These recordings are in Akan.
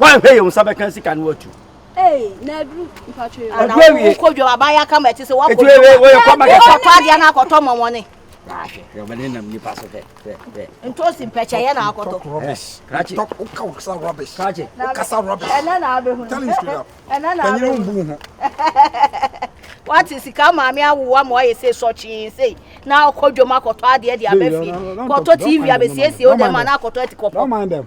woanhwɛ yɛ wo nsa bɛka sika no atu wokɔdwa waba yɛ akama ɛte sɛ woakɔtɔ adeɛ no akɔtɔ mmɔmɔne ntosi mpɛkyɛyɛ na akɔtɔ wokasa rubbish wokasa rubbish ɛnɛ na abɛhu tell you straight up ɛnɛ na abɛhu mbu ho wate sika maame awowa ma wayɛ sɛ sɔkyee sei na akɔ dwom akɔtɔ adeɛ de abɛfie kɔtɔ tv abɛsiesie wo dɛ ma na akɔtɔ atikɔpɔ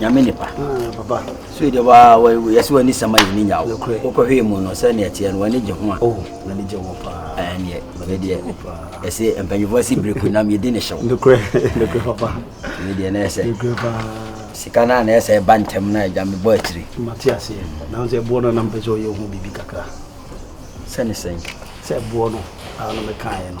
nyame nipa ah, so deɛ waa yɛsɛ w'ani sɛma yɛni nya wo wokɔhwee mu no sɛ ne ɛteɛ no w'ani gye ho a oh, ɛneɛ medeɛ ɛsɛ mpanyifoɔ si bere kunam yɛdi ne hyew medeɛ na ɛsɛ sika no a na ɛsɛ ɛba ntɛm no agya mebɔ akyiri sɛne sɛn sɛ ɛboɔ no a no mekaeɛ no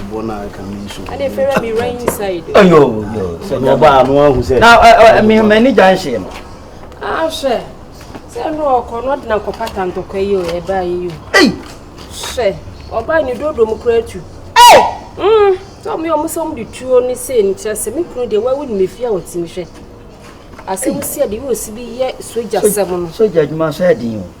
ɛbɔ no aka me nso ɔba ano ahu sɛ mehmani gya nhyee no ahwɛ sɛ no ɔkɔ no ɔde nankɔpata ntɔkwa yi o ɛbaa yi o hwɛ ɔba ne dodo mu kora atu mm, sɛ ɔmo yɛ ɔmo sɛ ɔmo de tuo ne sei no kyerɛ sɛ me kunu deɛ wawu ne mefie a wɔtumi hwɛ asɛm si a deɛ yɛ ɔsi bi yɛ sogya sɛm no sogya adwuma so ɛden o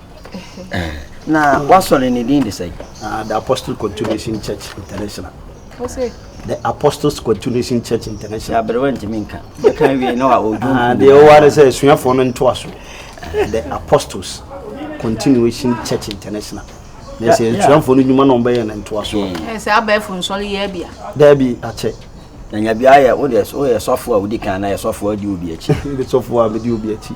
na wasɔre ne din de sɛ ah, the apostle continuation church international the apostles continuation church international aberewa ntumi nka yɛka wie na ɔdwo ah, deɛ ɔware sɛ asuafoɔ no ntoa so the apostles continuation church international na sɛ asuafoɔ no nnwuma na ɔmbɛyɛ no ntoa so sɛ abɛɛfo nsɔre yɛ bia daabi akyɛ na nyabia yɛ wodeɛ woyɛ sɔfoɔ a wodi kan na yɛ sɔfoɔ adi obi akyi sɔfoɔ a medi obi akyi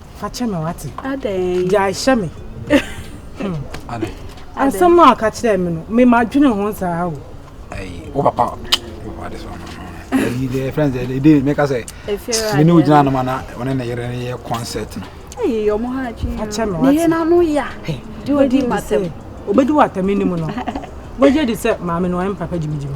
fa kyɛ me wate gyae hyɛ me asɛm no a ɔka kyerɛɛ me no mema dwene ho saa o wo papa wade so ɛyi deɛ friends ɛde ɛde meka sɛ me ne wogyina nom ana ɔne ne yere no yɛ concert no ɛyɛ yɛ ɔmo ha adwene ne yɛ n'ano ya de odi matam obɛdi wɔ atame nim no wagye di sɛ maame no ɔyɛ mpapa gyimigyimi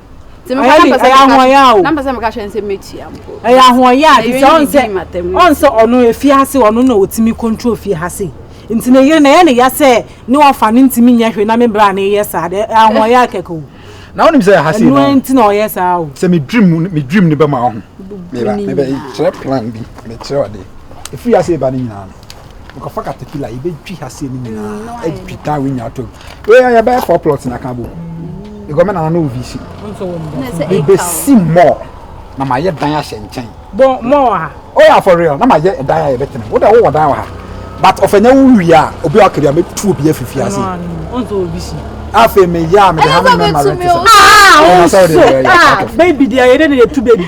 ɛyɛ ahoɔyɛ o ɛyɛ ahoɔyɛ a te sɛ ɔn sɛ ɔn sɛ ɔno efi ase ɔno na otumi control fi ase nti ne yere na ɛyɛ ne ya sɛ ne ɔfa ne ntumi nyɛ hwee na me bra na ɛyɛ saa dɛ ahoɔyɛ akɛkɛ o na wonim sɛ ha sei no ɛnu nti na ɔyɛ saa o sɛ me dream me dream ne bɛma ɔho meba meba kyerɛ plan bi mekyerɛ ɔde efi ase ba ne nyinaa no Nkurɔfoɔ katakila yi bɛtwi ha se no nyinaa atwi taa wo nyinaa tɔ wei ayɛ bɛyɛ four plots na ka bo ɛgɔmɛ na no vc mebɛsi mɔɔ na mayɛ dan ahyɛ nkyɛn oh yeah for real na mayɛ dan a yɛbɛtena wode wowɔ dan wɔ ha but ɔfanya wo wie a obi a ɔkari a mɛtu obi afifi ase afei meyɛ a mede ha me mɛma rɛntisa baby deɛ yɛdɛ ne yɛtu baby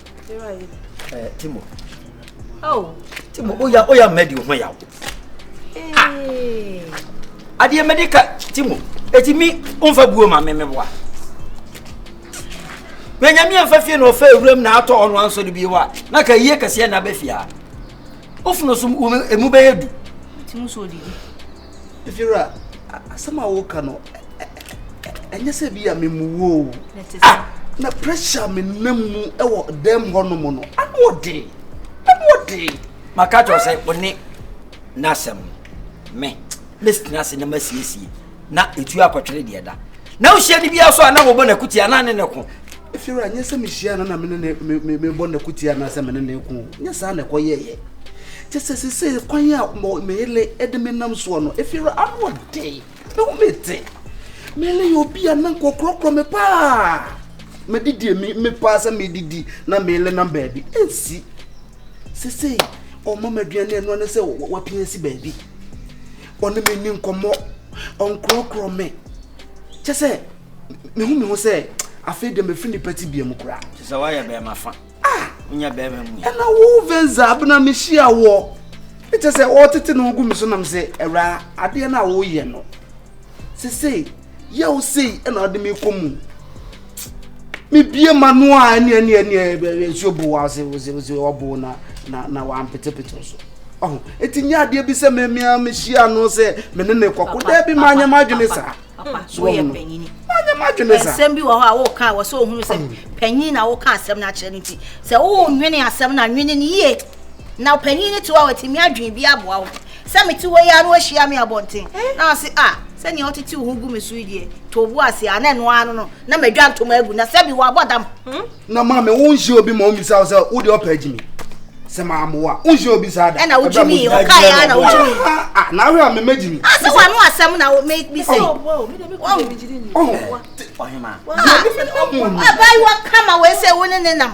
Eh, Timo. Oh. Timo, oya oya mɛdi ho yaw. Hey. Adeɛ mɛdi ka Timo, eti mi nfa buo ma mi mi boa. Bɛnyami anfa fie na ɔfɛ ewuram na atɔ ɔno anso de bi wa na ka yie kɛseɛ na bɛ fia. Ofunu so emu bɛyɛ du. Timo so odidi. Vera, asɛm a woka no ɛnyɛ sɛ bi a memu wo o. Ah, na pressure me nam mu wɔ dɛm hɔ nom no. Ano ɔden. Ano ɔden. Maka kyerɛ sɛ wo ne n'asɛm me. Mɛsitena ase na masiesie na ɛtu akɔtwere deɛ da. na wohyia ne biara so a na wɔbɔ n'akuti anaa ne ne ko ɛfiri a nyɛ sɛ mehyia no na mebɔ n'akuti anaasɛ mene ne ko nyɛ saa na ɛkɔyɛyɛ kyɛ sɛ sɛ sɛ kwan a meyele de menam soɔ no ɛfiri ano ɔden meho mete mele yɛ obi a na nkɔkorɔkorɔ me paa mede deɛ mepaa sɛ medidi na mele nam baabi ɛnsi sɛ sɛ ɔma m'aduane ɛnoa ne sɛ wapia si baabi ɔne me ni nkɔmmɔ ɔnkorɔkorɔ me kyɛ sɛ mehu me ho sɛ afei deɛ mafiri nipa ti bia mu koraa kyɛ sɛ woayɛ bɛrima fa ah! wonya bɛrima mu ɛna wo venza bena mehyia wɔ ɛkyɛ sɛ ɔtete no gu me so nam sɛ awura adeɛ no a woyɛ no sesei Yaw sei na ɔde me kɔ mu. Mebie ma no a ɛne ɛne ɛne nsuo bo wa ɔse ɔse ɔse ɔbo na na na wampetepete so. Ɔho eti nyɛ adeɛ bi sɛ mmɛmia mehyia no sɛ me ne ne kɔko dɛ bi ma nyɛ ma adwene saa. So ɔho no ma nyɛ ma adwene saa. Nsɛm bi wɔ hɔ a wɔka wɔ sɛ ohunu sɛ panyin na wɔka asɛm no akyerɛ no ti sɛ wɔnwene asɛm no anwene no yie na panyin no te hɔ a wɔtumi adwene bi aboa wo. Sɛ mete hɔ yi ara na wahyia me abɔnten na ɔse a sɛnea wotetew ho gu me so yi deɛ too bo ase a na ɛno ara no no na madwa ntoma agu na sɛbi wɔabɔ dam. Hmm? na maame wonhyia obi ma wommisa wo sɛ wode ɔpɛ agyi me sɛ maamoa wonhyia obi saa da ɛna wogye me ɔkaeɛ a na wogye me ah, ah, na awerɛ a memagye me asɛ ah, wano asɛm na mekbi sɛ ɔhema abaayewa kama wei sɛ wo ne ne nam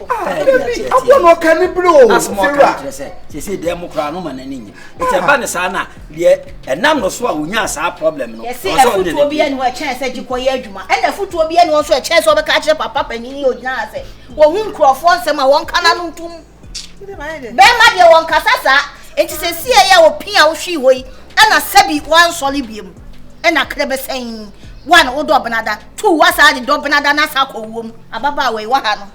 dabi aboɔ na ɔka ne bere o fira sese dɛm mo koraa no ma n'ani nye nti ɛba ne saa na deɛ ɛnam no so a wonya saa problem no yɛsi ɛfutuo bi ɛni hɔ ɛkyɛn sɛ gyikɔ yɛ adwuma ɛna ɛfutuo bi ɛni hɔ nso ɛkyɛn sɛ ɔbɛka akyerɛ papa panyin yi ogyina ha sɛ wɔn ho nkurɔfoɔ nsɛm a wɔn kana no ntum bɛrima deɛ wɔn kasa saa nti sɛ si ɛyɛ a opin a wohwi hɔ yi ɛna sɛbi wɔn ansɔre biem ɛna kere bɛsɛn wɔn a wɔdɔ ɔbɛnada. tu wa saa de dɔ benada na sa kɔ wom ababaawa yi waha no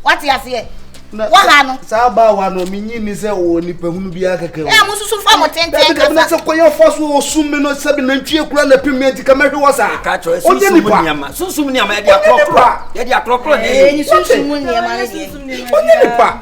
wate aseɛ waha no saa abaawa no menyi ni sɛ wɔ nipa hunu biara kɛkɛ ɛ mo susu fa mo tenten kasa na sɛ kɔyɛ fa so ɔsum me no sɛbi nantwie kura na pim me nti ka mɛhwe wɔ saa ɔnyɛ nipa sunsum nneɛma yɛde akorɔkorɔ yɛde akorɔkorɔ ne yɛ sunsum nneɛma ne deɛ ɔnyɛ nipa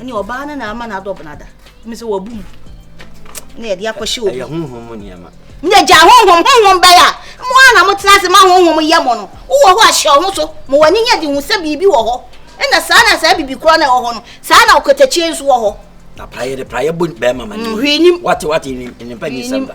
ɛne ɔbaa no na ama no adɔb no ada me sɛ wabu mu na yɛde akɔhyɛ obi ɛyɛ honhom mu nneɛma na gya honhom honhom bɛyɛ a mo a na motena ase ma honhom yɛ mo no wowɔ hɔ ahyɛ ɔho so ma w'ani nyɛ de hu sɛ biribi wɔ hɔ ɛna saa na saa biribi korɔ na ɛwɔ hɔ no saa na ɔkatakyie nso wɔ hɔ na prayɛ de prayɛ bɔ bɛrima ma ne mm, hwee nim wate wate nipa nyisɛm da